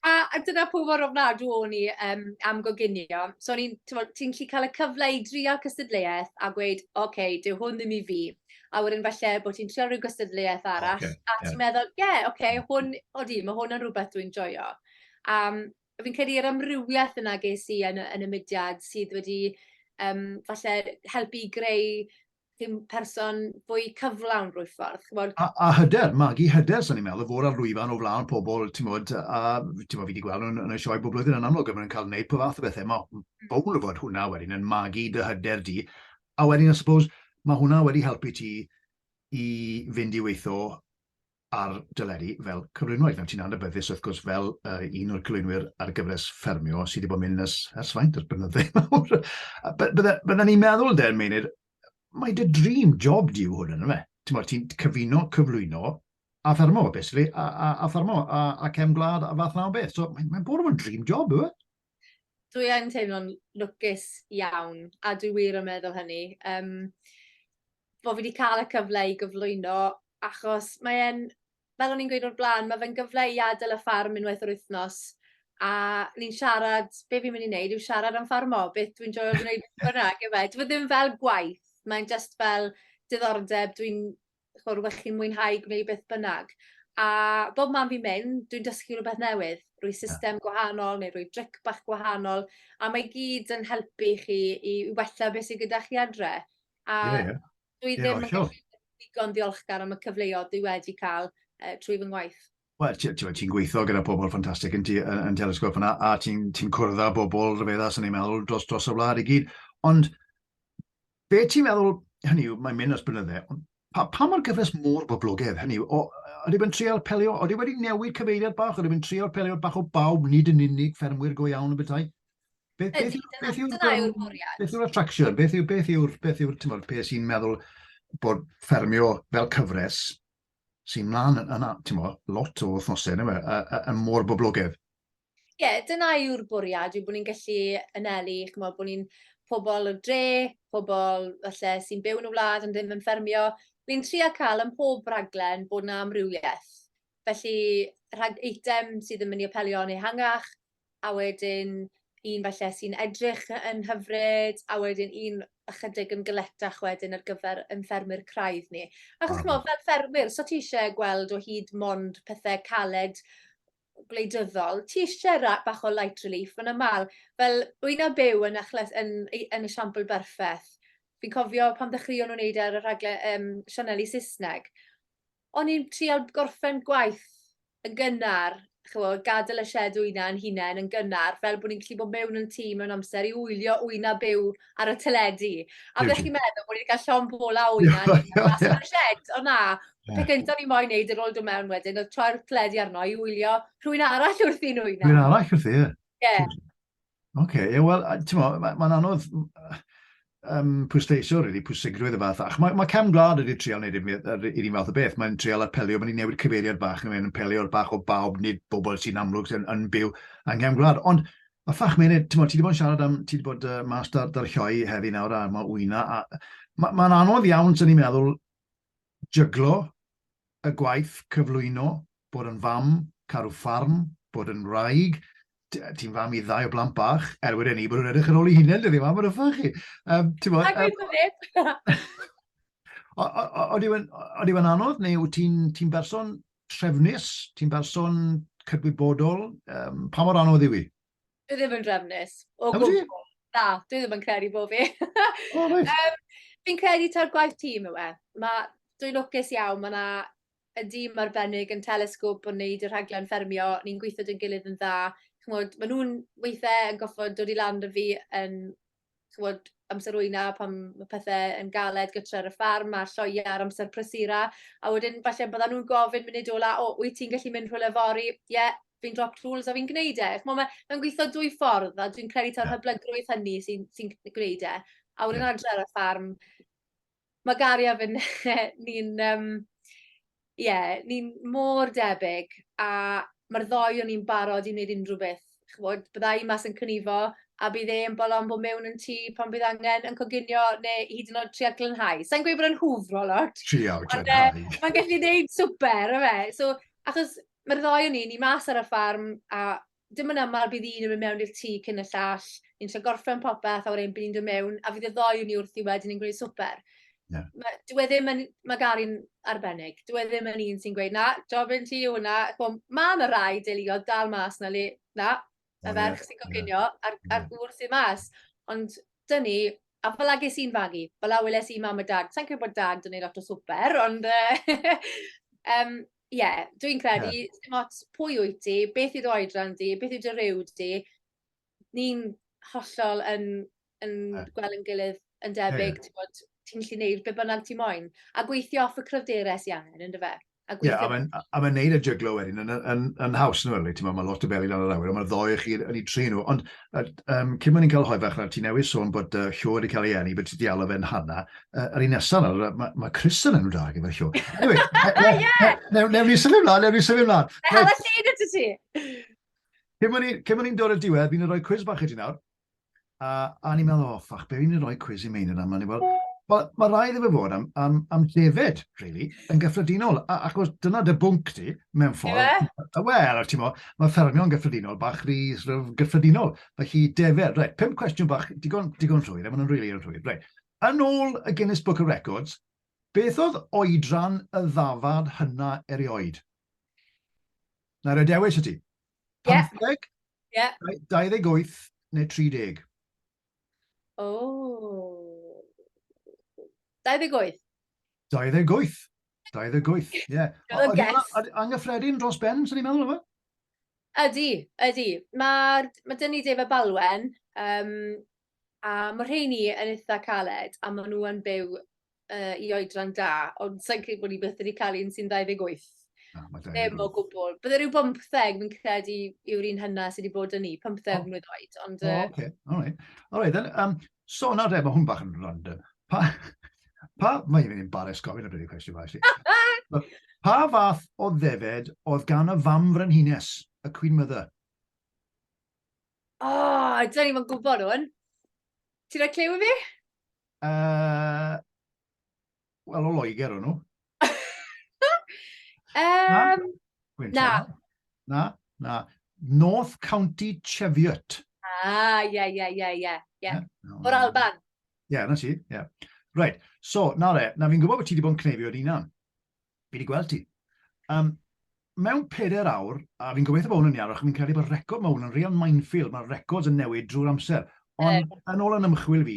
S2: A, a dyna pwy mor ofnadw o'n i um, am goginio. So o'n i'n, ti'n lli cael y cyfle i drio cystadleuaeth a gweud, oce, okay, dyw hwn ddim i fi. A wedyn falle bod ti'n trio rhyw gystadleuaeth arall, okay, a ti'n yeah. meddwl, ie, yeah, oce, okay, hwn, o di, mae hwn yn rhywbeth dwi'n joio. Um, fi'n credu yr amrywiaeth yna ges i yn y yn y mudiad sydd wedi yym falle helpu i greu rhyw person fwy cyflawn drwy'r ffordd, ch'mod? A, a hyder,
S1: magu hyder, sy'n ni'n meddwl, fod ar lwyfan o flaen pobl, ti'n modd, a ti'n modd fi wedi gweld nhw'n yn y sioe bob blwyddyn yn amlwg, maen nhw'n cael gwneud pob fath o bethau. Mae hmm. bowl o fod hwnna wedyn yn magu dy hyder di. A wedyn, I suppose, mae hwnna wedi helpu ti i fynd i weithio ar doleri fel cyflwynwraig. Nawr, ti'n anabyddus, wrth gwrs, fel uh, un o'r cyflwynwyr ar y gyfres ffermio sydd wedi bod yn mynd ers, ers faint o'r blynydde mawr. Byddwn ni'n meddwl, de'r meinir, mae dy dream job di yw hwn yn yma. Ti'n modd, ti'n cyfuno, cyflwyno, a ffermo, basically, a, a, a ffermo, a, a cefn gwlad, a fath na o beth. So, mae'n mae bwrw yn dream job, yw e? Dwi yn
S2: teimlo'n lwcus iawn, a dwi wir yn meddwl hynny, um, bod fi wedi cael y cyfle i gyflwyno, achos mae e'n, fel o'n i'n gweud o'r blaen, mae fe'n gyfle i adael y ffarm unwaith yr wythnos, a ni'n siarad, be fi'n mynd i wneud yw siarad am ffarmo, beth dwi'n joio gwneud bynnag, efe. Dwi ddim fel gwaith, mae'n just fel diddordeb, dwi'n ch'mo' rwbeth chi'n mwynhau gwneud beth bynnag a bob man fi'n mynd dwi'n dysgu rwbeth newydd rhwy system gwahanol neu rhwy dric bach gwahanol a mae gyd yn helpu chi i i wella be' sy gyda chi adre a... Ie ie. ...dwi ddim yn gallu digon ddiolchgar am y cyfleodd dwi wedi ca'l yy trwy fy ngwaith. Wel ti t'mod ti'n
S1: gweitho gyda pobol ffantastig yn ti yy yn Telesgop fyn 'na a ti'n ti'n cwrdd â bobol rhyfedda swn i'n meddwl dros dros y wlad i gyd ond Be ti'n meddwl, hynny yw, mae'n mynd at blynydde, ond pa, pa mor gyfres mor boblogedd, hynny yw, o, ydy fe'n trial pelio, ydy wedi newid cyfeiriad bach, ydy fe'n trial pelio bach o bawb, nid yn unig ffermwyr go iawn y bethau? Beth, beth, ydy, dyna, beth yw'r, dyna yw'r bwriad. Beth yw'r attraction? Beth yw'r, beth yw'r, beth yw'r, ti'n beth sy'n meddwl bod ffermio fel cyfres sy'n mlaen yn, yn ti'n mo, lot o wythnosau, yn, yn, yn, yn mor boblogedd? Ie
S2: dyna yw'r bwriad yw bo' ni'n gallu anelu ch'mo' bo' ni'n pobol y dre, pobol falle sy'n byw yn y wlad ond ddim yn ffermio, ni'n tria ca'l ym mhob raglen bod 'na amrywieth, felly rhag eitem sydd yn myn' i apelio yn ehangach, a wedyn un falle sy'n edrych yy yn hyfryd, a wedyn un ychydig yn galetach wedyn ar gyfer ein ffermwyr craidd ni. Achos ch'mo' fel ffermwyr,
S1: so ti
S2: isie gweld o hyd mond pethe caled gwleidyddol, ti eisiau rhaid bach o light relief, mae'n aml. Fel, wy'n a byw yn, achles, yn, yn y siampl berffaith. Fi'n cofio pan ddechreuon nhw'n neud e ar y rhagle um, Sianeli Saesneg. O'n i'n trial gorffen gwaith yn gynnar, chyfo, gadael y shed wyna yn hunain yn gynnar, fel bod ni'n gallu bod mewn yn tîm mewn amser i wylio wyna byw ar y teledu. A byddech chi'n meddwl bod ni wedi cael
S1: llon
S2: bol a wyna mas o'r shed,
S1: ond na.
S2: Pe gyntaf ni moyn neud yr ôl dod mewn wedyn, oedd troi'r teledu arno i wylio rhywun arall wrth i nhw wyna. Rhywun arall wrth i, ie. Ie. Oce, ie,
S1: wel, ti'n mo, mae'n ma anodd um, pwysleisio, really, pwysigrwydd y fath. Ac mae, mae cam gwlad wedi trial wneud i'r un fath o beth. Mae'n trial apelio, mae'n newid cyfeiriad bach, mae'n apelio'r bach o bawb, nid bobl sy'n amlwg sy'n yn byw yng Nghefn Gwlad. Ond A ffach mene, ti'n bod, ti wedi bod yn siarad am, ti wedi bod uh, mas dar, dar lloi heddi nawr a mae wyna, a mae'n ma anodd iawn, sy'n ni'n meddwl, jyglo y gwaith cyflwyno, bod yn fam, caru ffarm, bod yn wraig, ti'n fam i ddau o blant bach, er wedi ni bod yn edrych yn ôl i hunain, dydy fam, yn yffach chi. Um, ti'n bod,
S2: um,
S1: Ond yw e'n anodd, neu ti'n ti berson trefnus, ti'n berson cydwybodol, um, pa mor anodd yw i? Dwi ddim yn
S2: drefnus. O gwbl. Na,
S1: dwi ddim
S2: yn credu bod fi. O, oh, um,
S1: Fi'n credu ta'r
S2: gwaith tîm yw e. Ma, dwi'n lwcus iawn, mae yna y dîm arbennig yn telesgwp yn neud y rhaglen ffermio, ni'n gweithio dyn gilydd yn dda. Chymod, maen nhw'n weithiau yn goffod dod i lan dy fi yn ch'mod, amser ŵyna pan ma' pethe yn galed gytre ar y ffarm a lloea ar amser prysura, a wedyn falle byddan nhw'n gofyn munud ola, o, wyt ti'n gallu mynd rhywle fory? Ie, fi'n dropped rules a fi'n gwneud e. Ch'mo' ma' fe'n gweitho dwy ffordd a dwi'n credu taw hyblygrwydd hynny sy'n sy'n gwneud e. A wedyn adre ar y ffarm, Mae Gary a fy- ne- ni'n yym ie ni'n mor debyg a ma'r ddou o ni'n barod i neud unryw beth ch'mod bydda i mas yn cnivo a bydd e yn bolo am bo' mewn yn tŷ pan bydd angen yn coginio ne' hyd yn o'd trial glanhau. Sai'n gweud bod e'n hwfro lot. Trial glanhau. Ond yy
S1: mae'n
S2: gallu neud swper on' yfe? So achos ma'r ddou o ni ni mas ar y ffarm a dim yn aml bydd un yn mynd mewn i'r tŷ cyn y llall, ni'n lle gorffen popeth a wedyn bydd ni'n dod mewn a fydd y ddoi ni wrthi wedyn yn gwneud swper. Yeah. Mae, dwi e ddim yn, mae Gary'n arbennig. Dwi e ddim yn un sy'n gweud, na, jobyn ti yw hwnna. Mae yna rai deuluodd dal mas na le, na, y ferch sy'n coginio yeah. a'r, ar gŵr sy'n mas. Ond dyn ni, a fel agis i'n fagu, fel awyles i mam a dad, sa'n credu bod dad yn ei lot o swper, ond um, Ie, dwi'n credu, dim ots pwy wyt ti, beth yw dy oedran di, beth yw dy ryw di, ni'n hollol yn, yn gweld yn gilydd yn debyg, ti'n bod, ti'n gallu gwneud beth bynnag ti moyn. A gweithio off y cryfderau sy'n angen, ynddo fe? A gweithio... Ie, yeah,
S1: a mae'n neud y jyglo wedyn yn, yn, yn, yn haws, nhw'n rili, ti'n bod, mae lot o beli lan yr awyr, ond mae'r ddoe chi yn ei tri nhw. Ond Yr, um, cyn bod ni'n cael hoi fach, ti newydd sôn bod uh, Hugh wedi cael ei enni, bod ti wedi alw fe'n Hanna. Uh, yr un nesaf, mae ma, ma Chris yn enw da gyda Hugh. Anyway, newn ni sylwi mlaen, newn ni sylwi mlaen. Hel y
S2: llun ydw
S1: ti. Cyn bod ni'n dod y diwedd, fi'n rhoi cwiz bach i ti nawr. A, a ni'n meddwl, o, oh, ffach, be fi'n rhoi cwiz i meini yna? Mae'n fel, mae ma rai iddo fe fod am, am, am David, really, yn gyffredinol. A, achos dyna dy bwnc ti, mewn ffordd. Ie. Wel, ti'n mo, Mae ffermio yn gyffredinol, bach rhy sort of gyffredinol. Felly, defer. Reit, pum cwestiwn bach, digon, digon rhwydd, a maen nhw'n rili really rhwydd. Reit. Yn ôl y Guinness Book of Records, beth oedd oedran y ddafad hynna erioed? Na, rhaid dewis y ti. 15, yeah. 28 neu 30?
S2: O. 28. 28. 28,
S1: ie. Yeah. Oedd o'n anghyffredin dros ben, sy'n ni'n meddwl efo? Ydy,
S2: ydy. Mae ma dyn ni Dave a Balwen, um, a mae rheini yn eitha caled, a maen nhw yn byw uh, i oedran da, ond sa'n credu bod ni byth wedi cael un sy'n 28. Ah, Ddim o gwbl. Bydde rhyw 15 fi'n credu yw'r un hynna sydd wedi bod yn ni, 15 oh. mlynedd oed. Ond, uh... oh, okay.
S1: All right. All right, then, um, So nawr de, mae hwn bach yn random. Pa, pa, mae hi'n embarrass gofyn y bryd cwestiwn fawr i Pa fath o ddefed oedd gan y fam frenhines, y Queen Mother? O,
S2: oh, dyn ni'n gwybod hwn. Ti'n rhaid clyw i fi? Uh,
S1: Wel, o Loegr o'n nhw. um, na. Na, na. North County Cheviot. Ah, ie,
S2: ie, ie, ie. ie.
S1: O'r
S2: Alban.
S1: Ie, yeah, na ti, ie. Yeah. Right, so, na le, na fi'n gwybod bod ti wedi bod yn cneifio ar unan. Fi wedi gweld ti. Um, mewn peder awr, a fi'n gobeithio bod hwn yn iawn, achos fi'n credu bod record mae hwn yn real minefield, mae'r records yn newid drwy'r amser. Ond yn ôl yn ymchwil fi,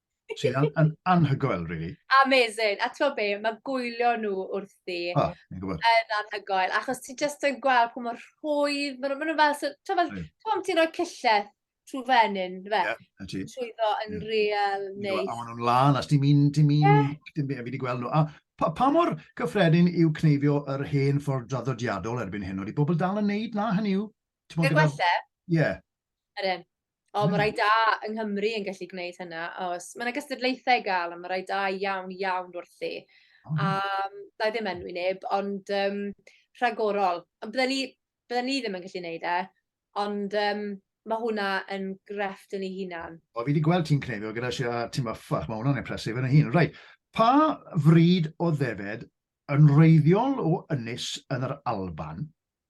S1: Sy'n an, an, anhygoel, really. Amazing. A ti'n
S2: be, mae gwylio nhw wrthi oh, yn anhygoel. Achos ti'n just yn gweld pwy mor rhwydd, maen nhw'n fel, so, ti'n fel, ti'n ti'n rhoi cillell trwy fenyn, fe? Yeah, Trwyddo yn yeah. real neis. A maen nhw'n lan, as ti'n
S1: mynd, ti'n mynd, yeah. ti'n mynd, fi wedi gweld nhw. A pa, pa mor gyffredin yw cneifio yr hen ffordd draddodiadol erbyn hyn? Oeddi bobl dal yn neud na, hynny yw? I'r gwella?
S2: Ie.
S1: Yr un.
S2: O, mae rhai da yng Nghymru yn gallu gwneud hynna, oes. Mae 'na gystadlaethau i gael, a mae rhai da iawn, iawn wrthi. A da i ddim enwi neb, ond um, rhagorol. Ond bydden ni, bydden ni ddim yn gallu gwneud e, ond um, mae hwnna yn grefft yn ei hunan. O, fi wedi gweld ti'n cneifio
S1: gyda sia ti'n maffach, mae hwnna'n impresif yn y hun. Rhaid, pa fryd o ddefed yn reiddiol o ynys yn yr Alban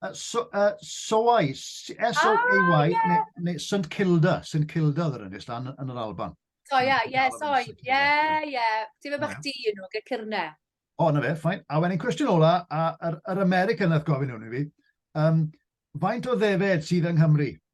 S2: Uh,
S1: so, uh, Soai, S-O-A-Y, ah, yeah. neu, St Kilda, St Kilda oedd yr ynys dan yn yr Alban. So, ie, ie,
S2: Soai, ie, ie. Ti'n meddwl bach di yn nhw, gyda cyrne. O, na fe, ffain.
S1: A wedyn cwestiwn ola, a yr, yr American nath gofyn hwn i fi, um, faint o ddefed sydd yng Nghymru?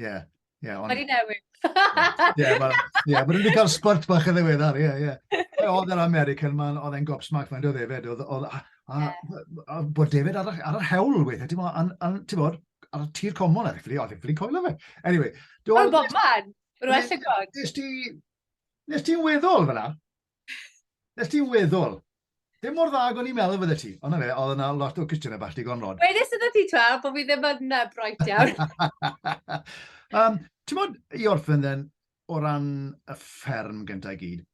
S1: Ie. Ie, ond... Mae di
S2: newid. Ie, yeah, well,
S1: yeah, mae wedi cael spurt bach yn ddiweddar, ie, ie. Oedd yr American man, oedd e'n gob smack fan, oedd efed, oedd, oedd, a, a, a, bod David ar, ar yr hewl weithiau, ti'n bod, ti'n bod, ar y tir comon, oedd e'n ffili, oedd e'n ffili coelio fe. Anyway. Oedd bob man,
S2: rwy'n well y god. Nes ti,
S1: nes ti'n weddol fyna, Nes ti weddol. Dim mor dda ag o'n i'n meddwl fydde ti. Ond na fe, oedd yna lot o cwestiynau bach digon rod. Wedys yna ti twa,
S2: bod fi ddim yn uh, bright iawn. um,
S1: Ti'n bod i orffen then, o ran y fferm gyntaf i gyd,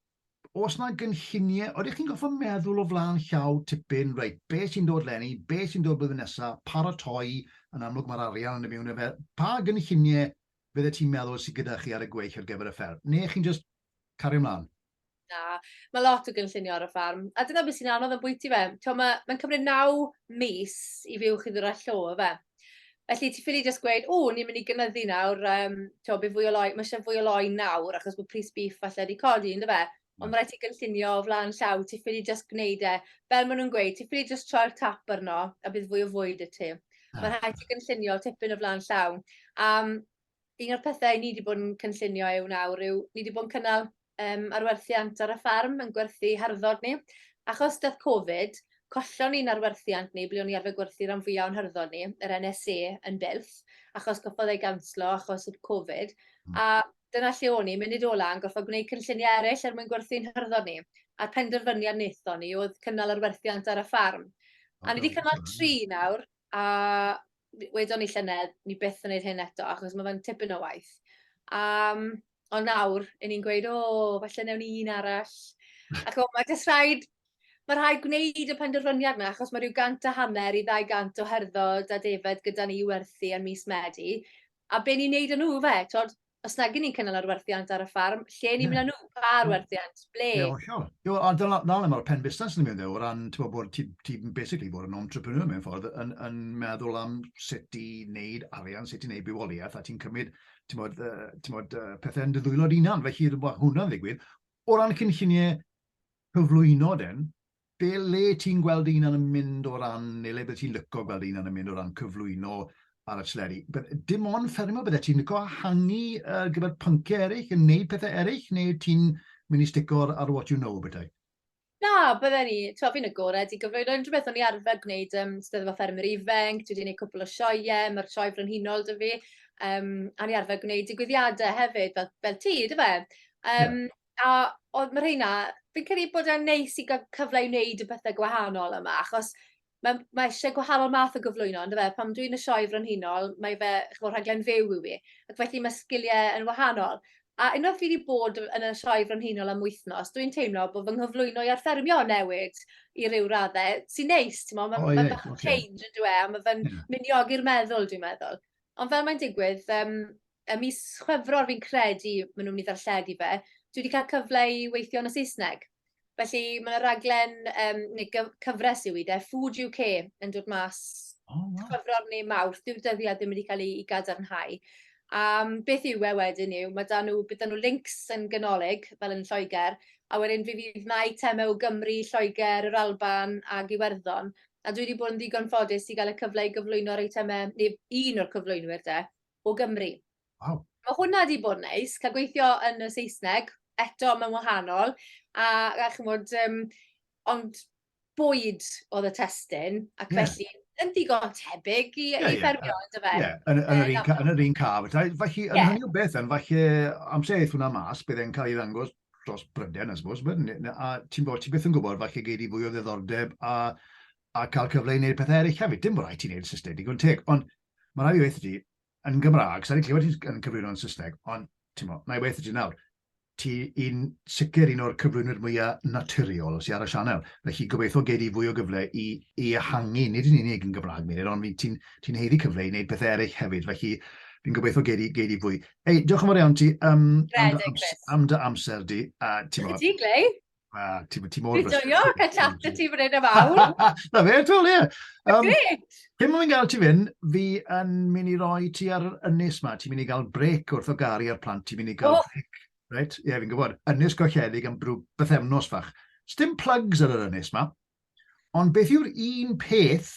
S1: os yna gynlluniau, oeddech chi'n goffa meddwl o flaen llaw tipyn, reit, be sy'n dod lenni, be sy'n dod blwyddyn nesaf, paratoi, yn amlwg mae'r arian yn y mewn efe, pa gynlluniau fydde ti'n meddwl sy'n gyda chi ar y gweill ar gyfer y fferm? Neu chi'n just Cario mlaen. Na,
S2: mae lot o gynllunio ar y ffarm. A dyna beth sy'n anodd yn bwyty fe. Mae'n mae cymryd naw mis i fyw chi ddwy'r allo, fe. Felly ti ffili just gweud, o, ni'n mynd i gynyddu nawr, um, to, be fwy o loi, mae eisiau fwy o loi nawr, achos bod pris bif falle wedi codi, ynddo fe? Ond hmm. mae rhaid ti gynllunio o flaen llaw, ti ffili just gwneud e. Fel maen nhw'n gweud, ti ffili just troi'r tap arno, a bydd fwy o fwyd y ti. Ah. Mae rhaid ti gynllunio tipyn o flaen llaw. Um, Un o'r pethau ni wedi bod yn cynllunio yw nawr yw, ni wedi bod yn cynnal um, arwerthiant ar y ffarm yn gwerthu harddod ni. Achos dath Covid, collon ni'n arwerthiant ni, ble o'n i arfer gwerthu rhan fwyaf o'n harddod ni, yr NSA yn bylth, achos goffodd ei ganslo achos y Covid. Hmm. A dyna lle o'n i, munud ola yn goffodd gwneud cynlluniau eraill er mwyn gwerthu'n harddod ni. A'r penderfyniad wnaethon ni oedd cynnal arwerthiant ar y ffarm. A ni wedi cynnal tri nawr, a w- wedon ni llynedd, ni byth yn neud hyn eto, achos ma' fe'n tipyn o waith. A, yym, ond nawr, 'yn ni'n gweud, o, falle newn ni un arall. A ch'mo', ma' jyst rhaid, ma' rhaid gwneud y penderfyniad 'na, achos ma' ryw gant a hanner i ddau gant o herddod a defaid gyda ni i werthu yn mis Medi, a be' ni'n neud â nhw 'fe, t'od? os nag ni'n cynnal ar werthiant ar y ffarm, lle ni'n mynd â nhw, pa ar werthiant, ble? Ie, hollol.
S1: Ie, a dyna le mae'r pen busnes yn mynd ddew, o ran, ti'n gwybod, bod ti, ti basically bod yn entrepreneur mewn ffordd, yn, yn meddwl am sut i wneud arian, sut i wneud bywoliaeth, a ti'n cymryd, ti'n bod, uh, ti'n bod uh, pethau yn dy ddwylo dy unan, felly mae hwnna'n ddigwydd. O ran cynlluniau cyflwyno den, Be le ti'n gweld dy hunan yn mynd o ran, neu le bydde ti'n lyco gweld dy hunan yn mynd o ran cyflwyno ar y tleri? Dim ond ffermio, bydde ti'n lyco hangu ar gyfer pynciau eraill, yn neud pethau eraill, neu ti'n mynd i stico ar what you know, bydde? Na,
S2: bydden i, ti'n fi'n agored i gyflwyno unrhyw beth o'n i arfer gwneud ym Steddfod Ffermwyr Ifanc, dwi wedi gwneud cwpl o sioeau, mae'r sioe frenhinol dy fi, um, a ni arfer gwneud digwyddiadau hefyd, fel, fel ti, dy fe? Um, yeah. A o'dd ma' rheina fi'n credu bod e'n neis i ga'l cyfle i neud y pethe gwahanol yma achos ma' ma' isie gwahanol math o gyflwyno on'd yfe? Pan dwi'n y Sioe Frenhinol mae fe ch'mo' rhaglen fyw yw 'i ac felly ma' sgilie yn wahanol. A unwaith fi 'di bod yn y Sioe Frenhinol am wythnos dwi'n teimlo bo' fy nghyflwyno i ar ffermio yn newid i ryw radde sy'n neis t'mo' ma' ma' bach o change on'd yw e a ma' fe'n... Ie. ...myn' i ogi'r meddwl dwi'n meddwl. Ond fel mae'n digwydd yym Ym mis Chwefror fi'n credu maen nhw'n mynd i ddarlledu fe. Dwi wedi cael cyfle i weithio yn y Saesneg. Felly mae yna raglen, um, neu cyfres yw i de, Food UK yn dod mas oh, wow. Chwefror neu Mawrth. Dyw'r dyddiad ddim wedi cael ei, ei gadarnhau. A beth yw e wedyn yw, mae dan nhw, bydd dan nhw links yn ganolig, fel yn Lloegr, a wedyn fi fydd na eitemau o Gymru, Lloegr, yr Alban a Iwerddon, a dwi wedi bod yn ddigon ffodus i gael y cyfle i gyflwyno'r eitemau, neu un o'r cyflwynwyr de, o Gymru. Waw. Mae
S1: hwnna wedi bod
S2: yn neis, cael gweithio yn y Saesneg, eto mae'n wahanol, a, a chymod, um, ond bwyd oedd y testyn, ac yeah. felly yn ddigon tebyg i, yeah, i ffermio, yeah. ynddo fe? Ie, yeah, yn, yn, yr un, yn
S1: yr un caf. Felly, yn yeah. hynny o beth, yn falle amser eith hwnna mas, bydd e'n cael ei ddangos dros Bryden, I suppose, a ti'n bod, ti beth yn gwybod, falle gei di fwy o ddeddordeb a, a cael cyfle i wneud pethau eraill hefyd. Dim bod rhaid ti'n wneud system digon teg, ond Mae rhaid i weithio ti yn Gymraeg, sa'n i'n clywed ti'n yn cyflwyno yn Saesneg, ond ti'n mo, na i weithio ti nawr. Ti yn sicr un o'r cyflwynwyr mwyaf naturiol sy'n ar y sianel. Felly gobeithio gei di fwy o gyfle i, i ehangu, nid yn unig yn Gymraeg, Meilir, ond ti'n ti heiddi cyfle i wneud pethau eraill hefyd. Felly fi'n gobeithio gei di, gei di fwy. Ei, diolch yn fawr iawn ti um, am, dy amser, am dy amser di. A, ti mo, ti, Glei?
S2: Ah, ti, ti mor... Ti'n joio,
S1: cael chat
S2: y ti fan hyn am awr. Na fe, twl, ie.
S1: Um, Gret!
S2: Pyn mwyn gael ti
S1: fynd, fi yn mynd i roi ti ar yr ynys ma. Ti'n mynd i gael brec wrth o gari ar plant, ti'n mynd i gael oh. brec. Right? Ie, yeah, fi'n gwybod. Ynys gochedig am brw bythefnos fach. Sdim plugs ar yr ynys ma. Ond beth yw'r un peth,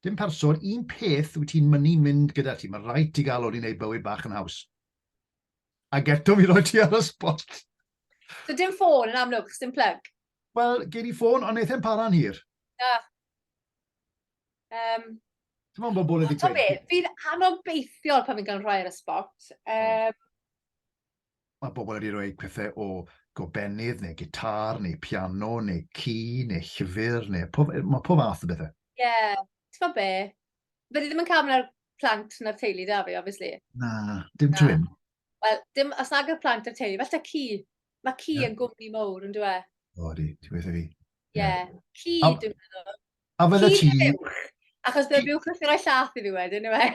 S1: dim person, un peth wyt ti'n mynd i mynd gyda ti. Mae rhaid ti gael o'n i wneud bywyd bach yn haws. Ac eto fi roi ti ar y spot. So dim
S2: ffôn yn amlwg, chos dim plug? Wel, gen i
S1: ffôn, ond eithaf para'n hir. Na.
S2: Um,
S1: Ti'n meddwl bod bobl wedi dweud? Ti'n fi'n
S2: anobeithiol pan fi'n cael rhoi ar y spot. Um,
S1: Mae bobl wedi rhoi pethau o gobennydd, neu gitar, neu piano, neu ci, neu llyfr, neu pob, mae pob fath o bethau. Ie, yeah. ti'n meddwl
S2: be? Fyddi ddim yn cael mynd â'r plant na'r teulu da fi, obviously. Na, dim twin.
S1: Wel, dim, os
S2: nag y plant a'r teulu, falle ci. Mae ci yeah. yn gwmni mowr, yn dweud. O, di, ti beth i fi.
S1: Ie, yeah. ci,
S2: a, dwi'n meddwl. A fydde ti... Ci
S1: buwch, achos bydd
S2: buwch yn rhoi llath i fi wedyn, yw e?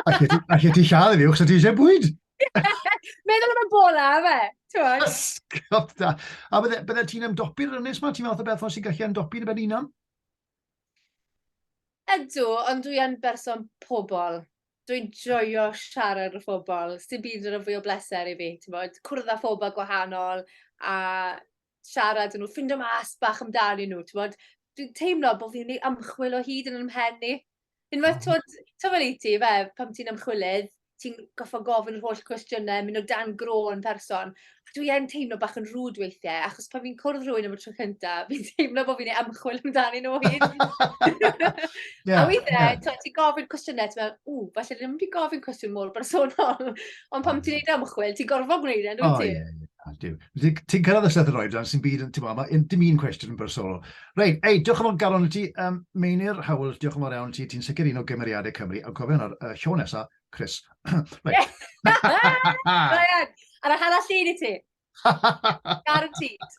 S2: A lle ti
S1: lladd i fi, achos ti eisiau bwyd? Meddwl
S2: am y bola, fe. Ysgop
S1: da. A bydde, bydde ti'n ymdopi'r ynnes ma? Ti'n meddwl beth o sy'n gallu ymdopi'n y ben unan?
S2: Ydw, ond dwi yn berson pobl. Dwi'n joio siarad â phobl. Sdim byd yn rhoi fwy o bleser i fi, ti'n bod, cwrdd â phobl gwahanol a siarad â nhw, ffindo mas bach amdanyn nhw, ti'n bod. Dwi'n teimlo bod fi'n ei ymchwil o hyd yn ymhen i. Unwaith, ti'n gwybod, ti'n gwybod i ti, fe, pam ti'n ymchwilydd, ti'n goffo gofyn yr holl cwestiynau, mynd o dan gro'n person. A dwi e'n teimlo bach yn rhwyd weithiau, achos pan fi'n cwrdd rhywun am y tro cynta, fi'n teimlo bod fi'n ei ymchwil amdani nhw hyn. yeah, a weithiau, yeah. ti'n gofyn cwestiynau, ti'n meddwl, ww, falle ddim wedi gofyn cwestiwn mor bersonol. Ond pan ti'n ei ymchwil, ti'n gorfod gwneud e'n dwi ti? Oh, yeah, yeah. Ti'n
S1: cyrraedd y llythyr oedran sy'n byd yn, ti'n meddwl, dim un cwestiwn yn bersonol. Reit, ei, diolch yn fawr Garron i ti, um, Meinir Howells, diolch yn fawr iawn ti, ti'n sicr un o gymeriadau Cymru, ond cofio hwnnw'r uh, siow nesa, Chris. Reit. Ryan,
S2: ar y hala llun i ti. Guaranteed.